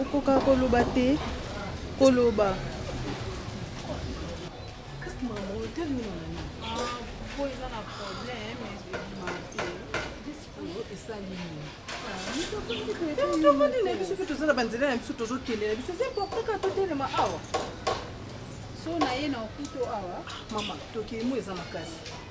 okokaka koloba te koloba po eza na problème ebima te discours esali nini tofandi na biso mpe toza na banzela na biso tozokende na biso eza important kaka totelema awa so na ye na okuto awa mama tokei mo eza makasi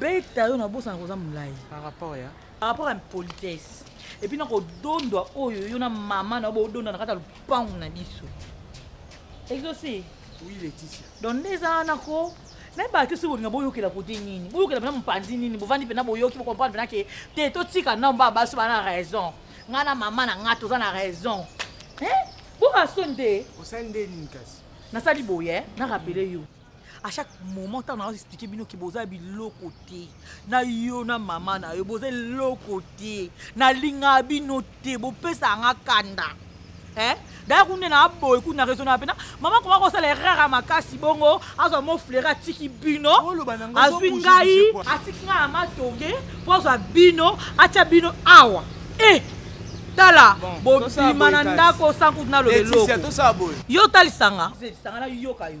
beta yo nabosana koza molai par rapport ya par rapport ya politesse epuis na kodondwa oyo yo na mama na yo bodondwa na kati ya lopango na biso exauce oui leticia donc nde eza wana ko nayebaka te soki bolinga boyokela kote nini boyokela mpena mopanzi nini bovandi mpena boyoki bokomprendre mpena ke te totika nomba baso bana na raison ngai na mama na ngai toza na raison boka soni te nasali boye na rapele yo à chaque moment ntango nazo explike bino ke boza biloko te na yo na mama na yo boza eloko te nalingaka bino te bopesaka nga kanda eh? daya kuna na aboye kuna na raisona mpena mama koma kosala erreur ya makasi bongo azwa mo fleure atiki bino azwi ngai atiki ngai na matonge mpo azwa bino atya bino awa e eh! tala bobima na ndako sankutu na lobeloko yo otalisanga yoka yo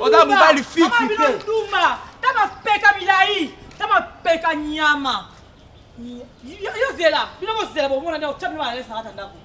oza mobali fifitumba ta mapeka milai ta mapeka nyama yo zela bino bozela bomona nde otya bino balalesaka ta ndako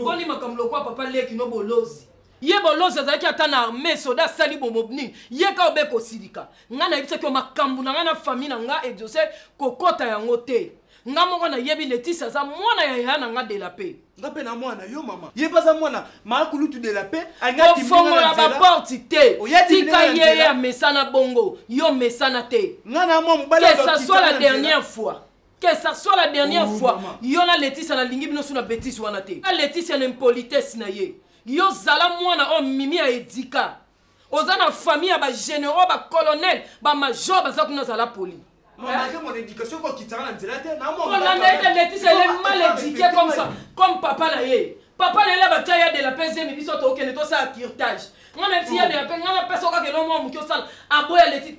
ngoni makambo lokola papa leki no bolozi ye bolozi azalaki ata na arme soda asali bomobni ye ka obe kosilika ngai nayebisaki yo makambo na ngai na fami na ngai ediose kokɔta yango te nga moko nayebi letisi aza mwana ya yaya na nga de la paix nga mpe na mwana yo mama ye mpe aza mwana maakulutu de la paix ofongola baporte te tika ye ye amesana bongo yo omesana te que ça soit la dernière fois que ça soit la dernière oh, fois yo na letisia nalingi bino su na betise wana te na letisia na impolitesse na ye yo zala mwana oyo mimi ya edika oza na famille ya bagénéraux bacolonel bamajor baza kuna zala poli kolanda ete letise ele mal édiqué comme ça comme papa na ye papa na ye batya ya de la pese emi biso tokende tosala curtage ngai na ti ya de la pese ngai napesa okaka elongo moke osala aboya letise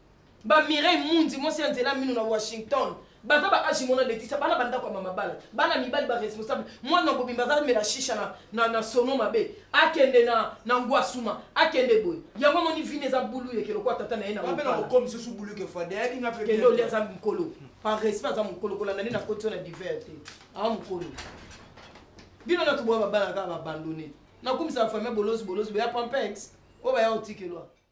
ba mireille mundi mwasi ya nzela mino na washington baza ba age mona letisa bana bandako ya mamabala bana mibali ba responsable mwana bobimba aza mela shisha na, na, na sono mabe akende na, na ngwasuma akende boye yango amoni vini eza bulu yeke lokola tata na ye nakende oli aza mokolo par respect aza mokolo kolanda nde nakoti na diver te aza mokolo bino na toboya babana kaka babandone nakumisa famille bolozi bolozi boya pampex oyo baya otikelwa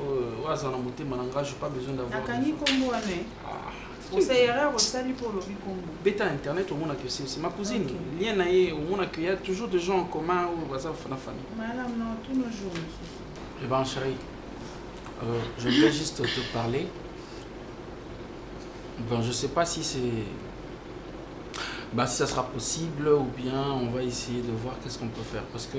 oyo aza na motema na ngai je pas besoin d'avoir akangi kombo wana eh? ah, osa erreur osali mpo olobi kombo beta internet omona que c'est ma cousine lien na ye omona que ya toujours des gens en commun oyo baza na famille malam na tous nos jours mosusu eh ben chérie euh, je voulais juste te parler bon je sais pas si c'est bah, si ça sera possible ou bien on va essayer de voir qu'est-ce qu'on peut faire parce que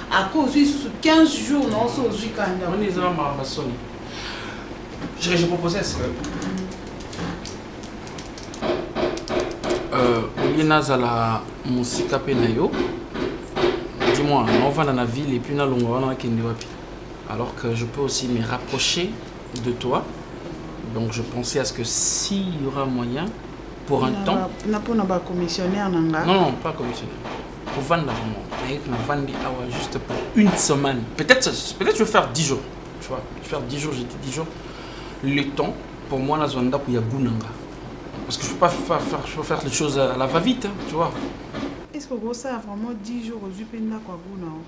Après ozui lisusu 15 jours na oso ozui kanda. Oni eza na mamba soni. Je je proposais ça. Euh, olie nazala mosika mpe na yo dis-moi naovanda na ville epuis nalonga wana nakende wapi alors que je peux aussi me rapprocher de toi donc je pensais à ce que s'il y aura moyen pour un temps na mpona bacommissionnaire na nga non non pas commissionnaire kovanda yango naye navandi awa juste pour une semaine peut-être peut-être je vais faire 10 jours tu vois je vais faire 10 jours j'ai dit 10 jours le temps pour moi nazwa ndako ya goût nanga parce que je peux pas faire, faire, je peux faire les choses à la va vite hein, tu vois est-ce que okosala vraiment 10 jours ozwi mpe ndako ya goût nao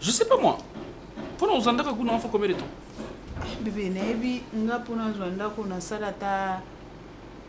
je sais pas moi mpona ozwa ndako ya goût nao faut combien de temps bebe nayebi nga mpona azwa ndako nasala ata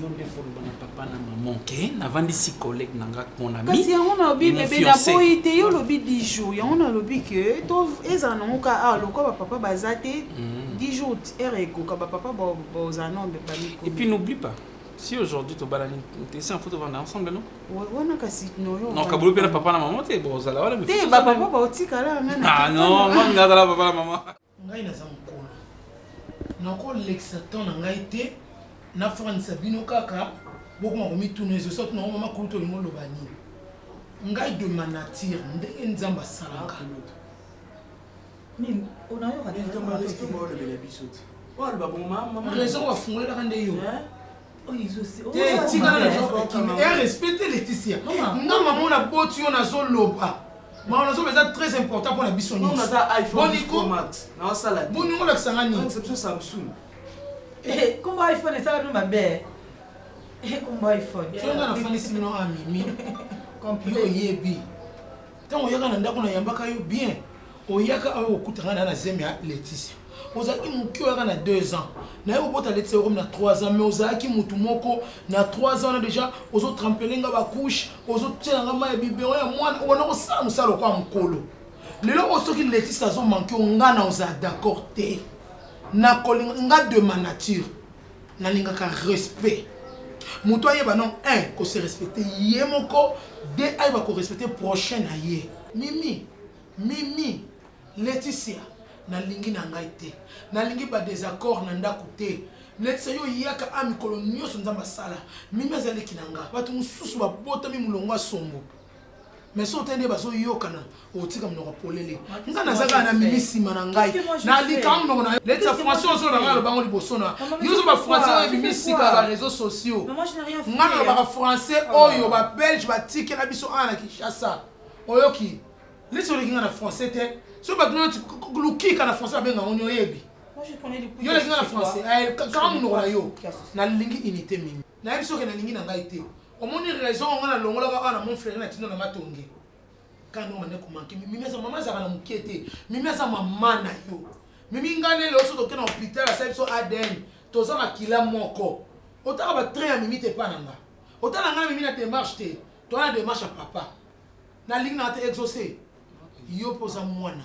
yo nde foloba na papa na maman ke navandisi collègue na nga mon ami kasi yango nalobi bebe naboyi te yo olobi 10 jours yango nalobi ke to ezala nango ka awa lokola bapapa baza te 10 mm. jours ere ekoka bapapa bozala nao bepami et puis n'oublie pas si aujourd'hui tobalani esi yanfo tovanda ensemble no wana kasi nokabulu mpe na papa na mama te bozala wana te bapapa baotikala nga ah, non nga azala papa na mama ngai naza mokolo nakolekisa temps na ngai te nafandisa bino kaka bokoma komituna ezo soki nango mama kulutu olingi oloba nini ngai de ma nature ndenge nzambe asalaka raison bafungolelaka nde yo respecte leticia nga mamo na boti yo nazoloba mawa nazoloba eza très important mpo na biso nyonsoboningo olakisa nga nini kombo iphone esala bino mabe kombo iphone tonga na fanisi bino amimi yo oyebi ntango oyaka na ndako nayambaka yo bien oyaka awa okutanga na na zemi ya leticia ozalaki moke oyaka na 2 ans naye kobota leticia okomi na 3 ans mais ozalaki motu moko na 3 ans wana déjà ozotrampele nga bacouche ozotyela nga mai ya bibero ya mwana obanda kosala mosala lokola mokolo lelo oyo soki leticia azomanke yo nga na ozala d'accord te nakolinga nga de ma nature nalingaka respect moto ayeba non un ko se respecter ye moko de ayeba ko respecter prochain na ye mimi mimi leticia nalingi na ngai te nalingi badésaccord na ndako te leticia yo oyaka a mikolo nyonso nzambe asala mimi azaleki na nga bato mosusu babotami molongo asombo mais soki otali nde bazoyokana okotika monoko polele nga naza kaka na mimi nsima na ngai nalika monoko na leti ya français ozo na ngai alobango liboso na yozo bafrançais oyo ebimi sika ya bareseau sociaux nga nalobaka français ah. oyo babelge batikela biso awa na kinshasa oyoki leti oleki nga na français te soki bato noti lukika na français babenga ngo nioyebi yo oleki nga na français kaka monoko na yo nalingi unité mingi nayebi soki nalingi na ngai te omoni raison yango na longolaka awa na mon frère na tino na matonge kano mane komanke mimi aza mama azalaka na moke te mimi aza mama na yo mimi ngai ne leo so toke na hôpital asali biso adn toza makila moko otala batrain ya mimi te epa na nga otala ngai na mimi na démarche te toza na démarche ya papa nalingi na te exauce yo mpo oza mwana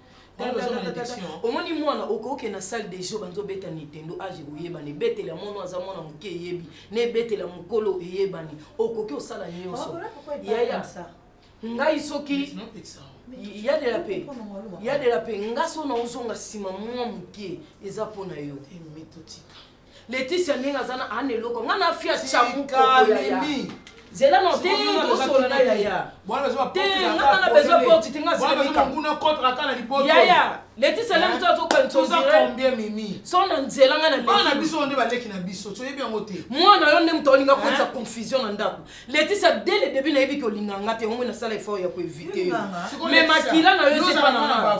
omoni mwana okoke na salle de jeu banzo beta nintendo age koyebana ebetela mono aza mwana moke eyebi na ebetela mokolo eyebani okoki osala nyonso yaya ngai soki ya de la paix ya de la paix nga so na ozonga nsima mwa moke eza mpo na yo Leticia ndenge aza na ana eloko nga na fia chamuko ya ya zela no te tosola na yaya te ngana na besoin porte te ngasileyaya letisa le moto azokanso na nzela nga na biso nde baleki na biso toyebi yango te mwana yo nde moto olinga koyisa confusion na ndako letisa de le debut nayebi kolinga nga te yango nasala effort ya koevite yo me makila na yo ezepa na nga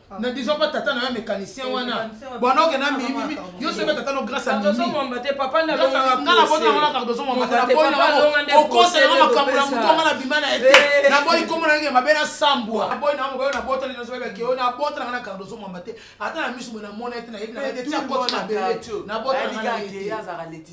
na disant pas tata na yo mécanicien wana bwana oke na mimi yo soki tata no grâce à mimingana botangola cardozo mwambate naboyi na okosa yango makambo na moto anga na bima na ye te naboyi nkombo na yenge mabe nasambwa naboyi na yango nabotani na zoyeba keo nabotana nga na cardozo mwambate ata na miso boye namona ye te nayebi na ye te ti akoti mabele nabotana nga na ye te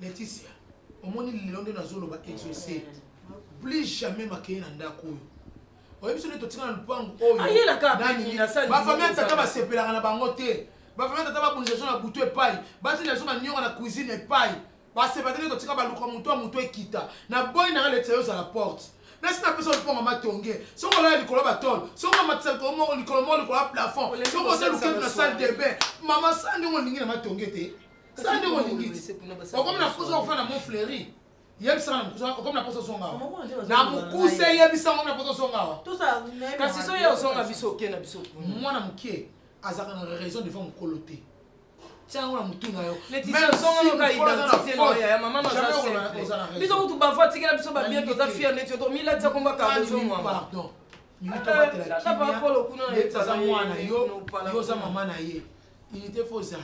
Laetitia, omoni lelo nde nazoloba exauce. Plus jamais makeye na ndako oyo. Oyebi soki totika na lupangu oyo. Ayela ka nani na sali. Ba famille tata ba sepelaka na bango te. Ba famille tata ba bunza na butu epai. Ba tata so ba nyoka na cuisine epai. Ba sepelaka te totika ba luka mutu mutu ekita. Na boy na Laetitia yo za la porte. nasi napesa liponga matonge soki olala likolo ya batole soki omatisa likolo moko likolo moko likolo ya plafond soki oza luketu na salle de bain mama sandongo olingi na matonge te sala nde olingiti okomi na posa ofana na mont fleuri yebisa nga na mokuse okomi na posa ozonga awa na mokuse yebisa nga na posa ozonga awa kasi so ye ozonga biso oke na biso mwana moke azalaka na raison devant mokolo te tiango na motu na yo biso kutu bavo atikela biso babie toza fier neti yo tomilatisa komba kabozo mwama aza mwana yo oza mama na ye unité fo ozala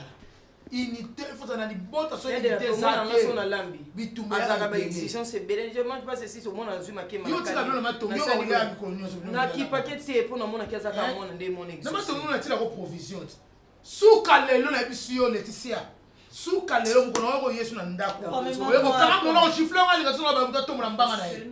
unité il faut ozala na libota so unité eza te na lambi bitumba azaka ba exigence ebele je mange pas ceci so mona azui makema yo tika bino ma tongi yo ya mikolo nyonso na ki paquet te po na mona ki azaka eh? mona nde mona exigence na ma tongi na tila ko provision suka lelo na yebisi yo Laetitia suka lelo mokolo wako yesu na ndako oye kokanga mona ochifle nga linga sona bamutu atombola mbanga na ye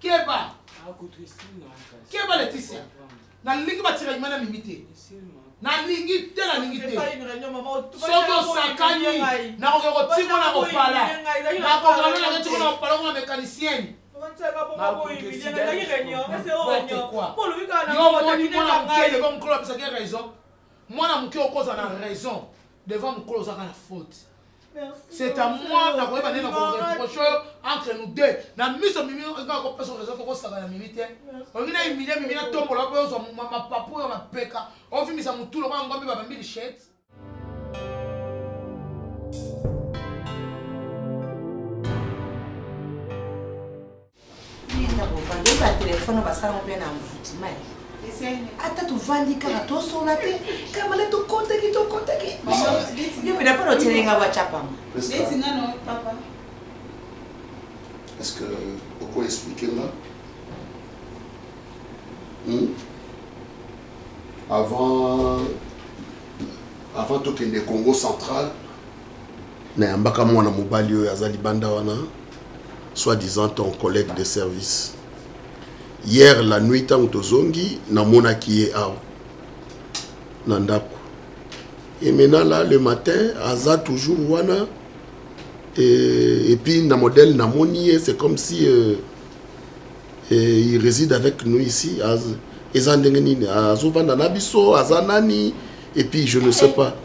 keba keba leticia nalingi batira nyuma na mimi te nalingi te nalingi te soki osakani nakoki kotingo na kopala nakoki nalolaka tingo na kopala kuna mécanicienne yomoni mwana moke devant mokolo apesaki raison mwana moke okozala na raison devant mokolo ozaka na faute c'est à moi na koyeba nde na koreproche oyo entre nous deux na miso mimi nga kopesa raison tokosaka na mimi te olingi na humilie mimi natombola mpe ozwa mapapu oyo mapeka ovimisa motu lokola ngombe babambi lichete ata tovandi kaka tosola te kamala tokotaki tokotaki yo pena mpo notelenga wacapama est ce que oko explike nga hmm? avant avant tokende congo central nayambaka mwana mobali oyo aza libanda wana soit disant ton collègue de service hier la nuit ntango tozongi namonaki ye awa na ndako et maintenant là le matin aza toujours wana et, et puis na modèle namoni ye c'est comme si euh, et il réside avec nous ici eza ndenge nini azovanda na biso aza nani et puis je ne sais pas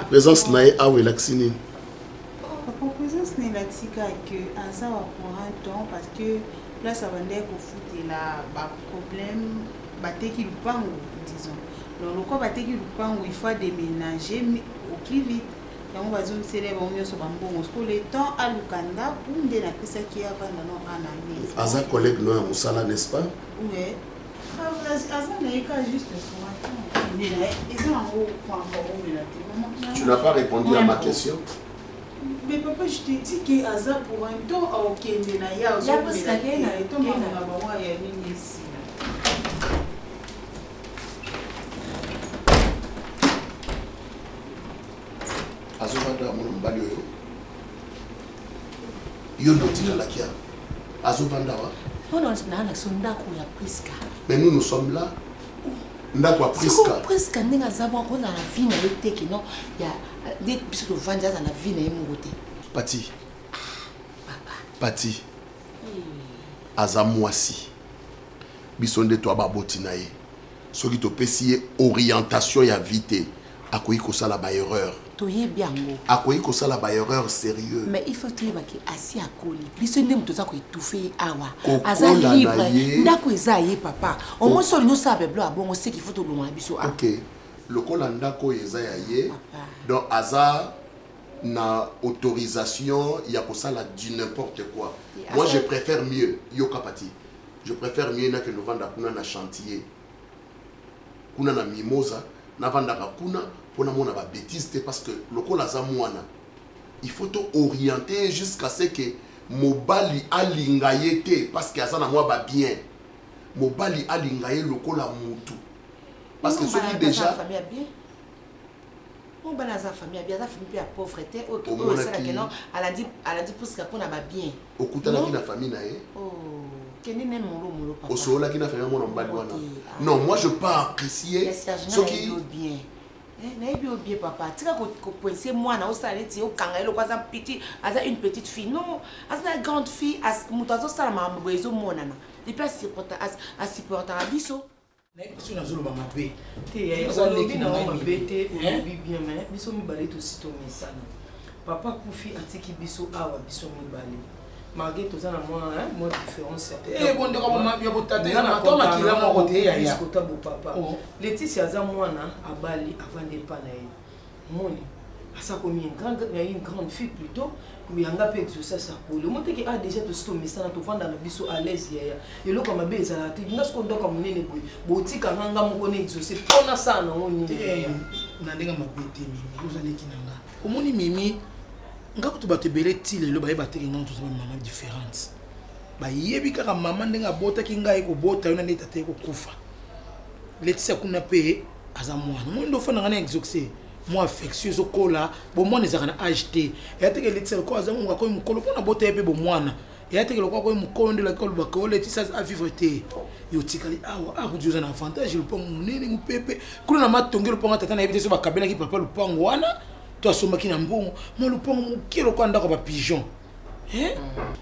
présence na ye awa elakisi nini Papa présence na elakisi kaka que aza wa pour un temps parce que place abandaki kofutela baproblème bateki lupango disons donc lokola bateki lupango il faut ademénage au plus vite yango bazongisela bango nyonso bambongo siko le temps aluka ndako nde napesaki ye avanda no ana aza collègue no ya mosala n'est ce pas Tu n'as pas répondu à ma question. Mais papa, je t'ai dit que Aza pour un temps à Okende na ya, Ozo Kenda na ya, Toma na bawa ya nini ici. Azo vanda mwana mobali oyo. Yo ndotina lakia. azo vanda wa oh non na na son ndako ya Prisca mais nous nous sommes là ndako ya Prisca Prisca ndenge aza mwa ko na la vie na yote ki non ya de biso to vanda za na vie na ye moko te Pati papa Pati aza mwasi biso nde to ababoti na ye soki topesi ye orientation ya vie te akoki kosala baerreur toyebi yango akoki kosala baerreur sérieux mais il faut toyeba ke asi akoli biso nde moto oza koetufe ye awa aza libre ndako eza ye papa omoi solo nyonso ya beblo abongo seki faut tolonga na biso ok lokola ndako oyo eza ya ye donc aza na autorisation ya kosala du n'importe quoi moi je préfère mieux yoka pati je préfère mieux nakende ovanda kuna na chantier kuna na mimosa navandaka kuna mpo namona babetise te parce que lokola aza mwana il faut to oriente ye jusqu'à ce que mobali alinga ye te parce que aza na mwa babien mobali alinga ye lokola mutu parce que soki déjà oyo bana aza famille abi aza famille mpe ya pauvre te oyo esala keno alandi pusika mpo na babien okutanaki na famille na ye oh, kende ne molo molo papa osololaki na famille ya mwana mobali wana ah. non moi je pas apprécier soki bien eh, nayebi yo bien papa tika kopoinse mwana osala neti okanga ye loko aza petit aza une petite fille non aza na grande fille moto azosala makambo boye ezomonana epuis asupportaka biso soki nazoloba mabe teolobi na yango mabe te olobi eh? bien mai biso mibale tosi tomesana papa kufi atiki biso awa biso mibale malgré toza na mwa mwa différence ya botatakila moko te yayakota bopapa oh. leticia aza mwana abali avanda epa na ye omoni asa komi une grande na une grande fille plutôt yanga mpe exauce asakoli omoteke a ah, déjà tosi tomesana tovanda na biso à l'aise yaya eloko mabe ezalaka te nga soko ndoka monene boye botika nga nga moko na exauce mpo nasala nango nini eh, na ndenge mabe te mimi ozaleki na nga omoni mimi nga kutu bato ebele ti lelo bayeba te kenga moto ozaba mama différente bayebi kaka mama ndenge abotaki ngai kobota yo na nde tata ye kokufa letisa kuna mpe aza mwana omoni nde ofandaka na exoxe mwa affection ezokola bomwana ezalaka na age te eya teke eletisa lokola aza mongo akomi mokolo mpo na bota ye mpe bomwana eya teke lokola akomi mokolo nde elaki olobaka oletisa avivre te yo otikali awa akudi oza na avantage lopango monene mopepe kuna na matongi lopango tata na yebi te so bakabelaki papa lopango wana to asombaki na mbongo ma lopango moke lokola ndako ya bapigeon eh?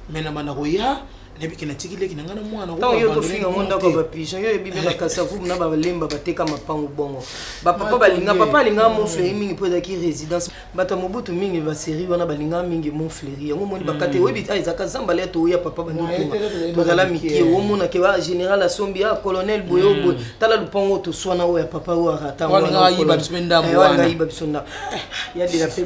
mais na banda koya nayebike natiki leki na ngai na mwana ntango yo tofinga ngo ndako ya bapigeon yo oyebi mpe bakasavubu na balemba bateka mapango bongo bapapa balinga papa alingaka monfleri mingi mpo ezalaki résidence bato ya mobutu mingi baserie wana balingaka mingi monfleri yango omoni bakate hmm. oyebi ah, ezalaka zamba lya toya papa bandikoma tozala mike omonake ba général asombi a ah, colonel boye hmm. boye tala lupango toswana oyo ya papa oyo arata wangayiba biso ndako eh, yadela mpe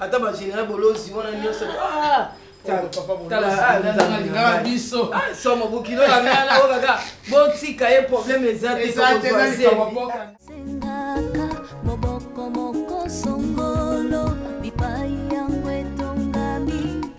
ata ba général bolozi wana nyonso ah! talingaka biso ah, somo bokilo ya ngana oyo kaka botika ye problème eza te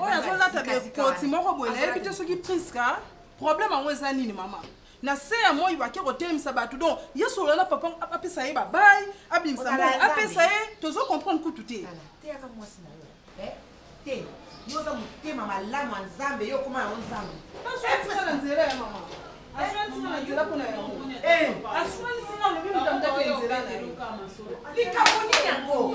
oyo azolata bekoti moko boye nayebi te soki priska problème yango eza nini mama na se ya moi bake kotelemisa bato donc ye solola na papa apesa ye babai abimisa moi apesa ye tozo comprendre kutu te te yo oza motema malamu ya nzambe yo okoma yango nzambe na nzela ya mama aswanisi na nzela mpona yango aswanisi na lobi motamtaki nzela na ye likambo nini yango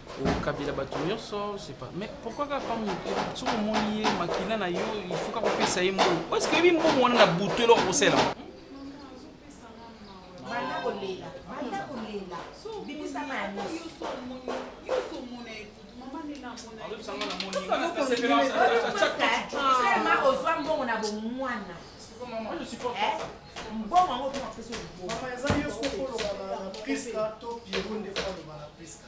okabela bato nyonso sepa mais pourquoi kaka pa moke soki omoni ye makila na yo ifuka kopesa ye mbongo parce que oyebi mbongo wana na butu eloko kosela ozwa mbongo na bomwana mbongo yango mpona pesa obongo eza yo sokoloba na priska to piero nde faloba na priska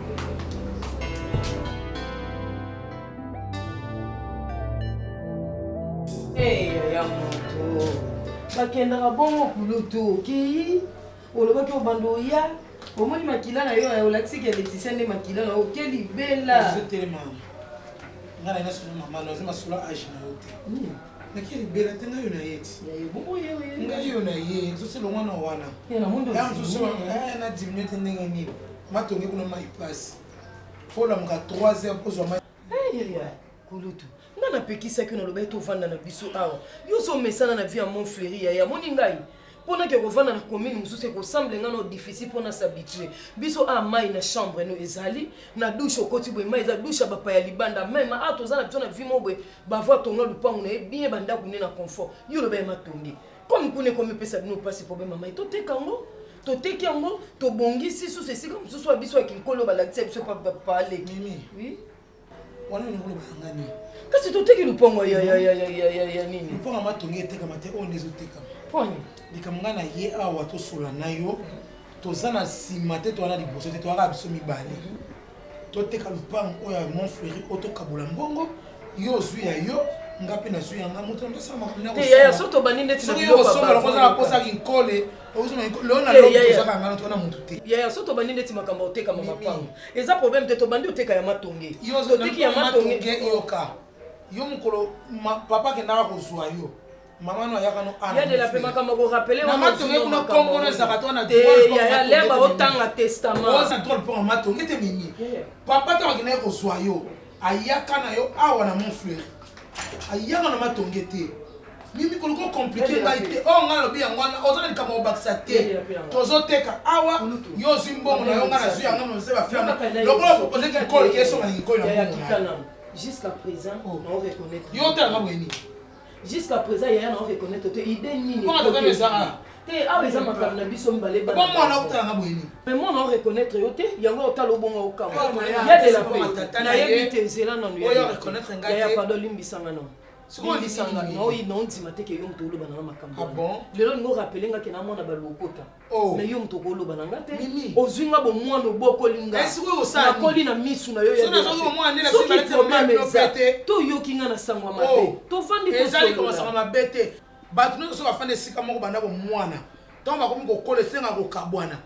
bakendaka bongo kulutu okei olobaki obanda oya omoni makila na yo olakisi ke leticia nde makila na oke libela nga na nga solo mama naza masolo age na yo te naki libela te ngai yo na ye ti ngai yo na ye zosi elongwa na wana ya mosusu eh, na diminue te ndenge nini matongi kuna mai pasi folamuka 3 heures kozwa mai kulutu nga napekisaki yo nalobaki tovanda na biso awa yo ozomesana na vie ya mont fleri yaya moni ngai mpo nake kovanda na commune mosusu ekosemble nga no difficile mpo nasabitue biso a ah, mai na chambre no ezali na dushe okoti boye mai eza dushe ya bapa ya libanda meme a ah, toza na biso na vie mo boye bavoi tonga lupangu na ye bien bandako nde na confort yo loba ya matonge comme kuna ekomipesa bino mpasi problème ya mai toteka yango toteki yango tobongisi susu esika mosusu ya biso ya kinkolo balakisa biso paleki oui wana olingi kolobaka nga nini kasi toteki lupongo ya nini lupongo yango atongi etekama te oyo nde ezotekama poni likambo ngai na ye awa tosola na yo toza na nsima te towana liboso te toyaka biso mibale mhm. toteka lupango oyo ya mont fleuri oyo tokabola mbongo yo ozwi ya yo nga mpe nazwi yanga moto ndosala makambo nayosoki okosala mposa kinkole yaya so tobandi ndeti makambo ya kotekama mapango eza problème te tobandi oteka ya matonge toteki ya matonge yoka yo mokolo papa akendaka kozwa yo mama no ayaka no yadela mpe makambo korapelematonge kuna kombono ezaka to nayalemba otanga testamentdrole mpo matonge te mimi papa ntango akendaki kozwa yo ayaka na yo awa na mont fleury ayaka na matonge te mimi koluka okomplike ngai te oyo oh, ngai alobi yango wana oza na likambo obakisa te tozoteka awa yo ozwi mbongo na yo ngai nazwi yango nose bafilana lokola propose kikolo esonga na kikolo na mbongo jusqu'à présent oh. na oreconnaitre yo otalaka boye nini jusqu'à présent yaya na oreconnaitre te idée nini te awa eza makambo na biso mibale mwana otalanga boyeni me mwana oreconnaitre yo te yango otala obonga okamwa ya de la paix nayebi te nzela nanu ya pado limbisanga nanu limbisanga naoyi naondima te ke yo moto oloba nanga makambo ah lelo ningo rapele nga ke na mwana balokota oh. me yo moto okoloba na nga te ozwi nga bomwana obokoli nganakoli na misu na yo soki probleme eza toyoki nga na sango ya mabe oh. tovandi bato nyonso soki bafanda esika moko banda bomwana ntango bakomi kokola esenga kokabwana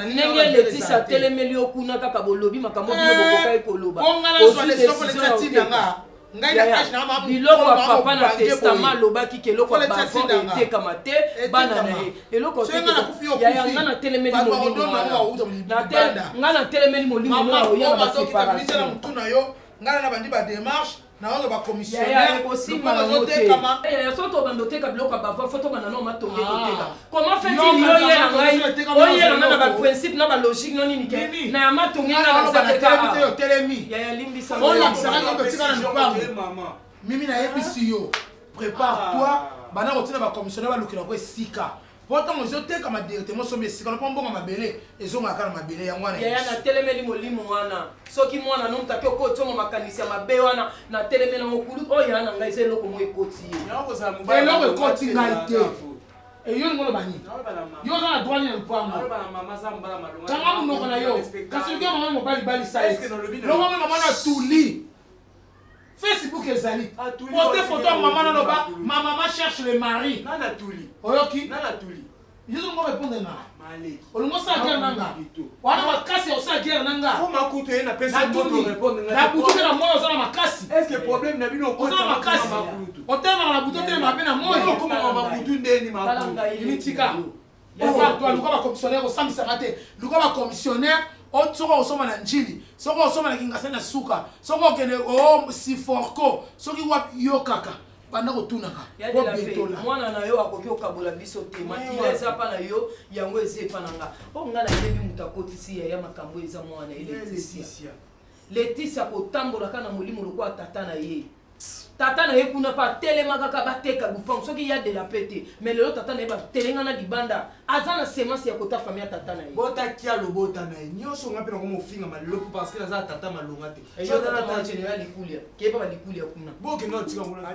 ndenge letisa atelemeli yo kuna kaka bolobi makambo bino eh, bokokaki koloba biloko ya papa na testama alobaki ke eloko ya bavon etekama te bana na ye eloko yaya nga na telemeli molimo nga na telemeli molimo oya na baseparation ngai na bandi ba démarche naoyo ba commissionnaire lokola bazotekama eh, soki tobanda oteka biloko ya bavoi fo tobanda nao matonge ah. koteka comment fait-il oyela ngai oyela ngai na baprincipe na balogique no nini ke na ya matonge ngai otelemi yaya limbisa olakisaka ngai totika na lopango mimi nayebisi yo prépare toi ah. bana kotina bacommissionnaire balukela ko esika po ntango ezotekama directement osombi esika na mpo mbongo mabele ezongaka kaka na mabele yango wana yaya natelemeli molimo wana soki mwana no mutaki okoti ongo makanisi ya mabe wana natelemeli yango kulu oyo oh, yaya na ngai eza eloko moko ekoti ye eloko ekoti ngai te eyo lingo loba nini yo oza na droit nini ya lupango kanga monoko na yo kasi oke mama mobali balisa ye longo mama na tuli facebook ezali poste photo ya mama naloba ma mama cherche le mari oyoki yezo ngo répondre nga olingi osala guerre na nga wana makasi ya kosala guerre na nga na butu mpe na moi oza na makasi oza na makasi otelemaka na butu otelemaka mpe na moi mitika yatwa luka bakomisionnaire kosambisaka te luka bakomisionnaire soki okosomba na njili soki okosomba na kingasa na suka soki okende o siforco soki wapi yo kaka banda kotunaka obetola mwana na yo akoki kokabola biso te makila eza mpa na yo yango eza epa na nga mpo nga nayebi moto akotisi yaya makambo eza mwana eletisia Laetitia kotambola ka na molimo lokola tata na ye tata na ye kuna mpe atelema kaka bateka lupango soki ya de la pe te mais lelo tata na ye batelenga na libanda aza na semence ya kota famille ya tata na ye bota kia lobota na ye nyonso nga mpe nakoma ofingama lelo mpo parce que naza tata malonga te eyoaa general likulia keba balikulia kuna bokenda otika kuna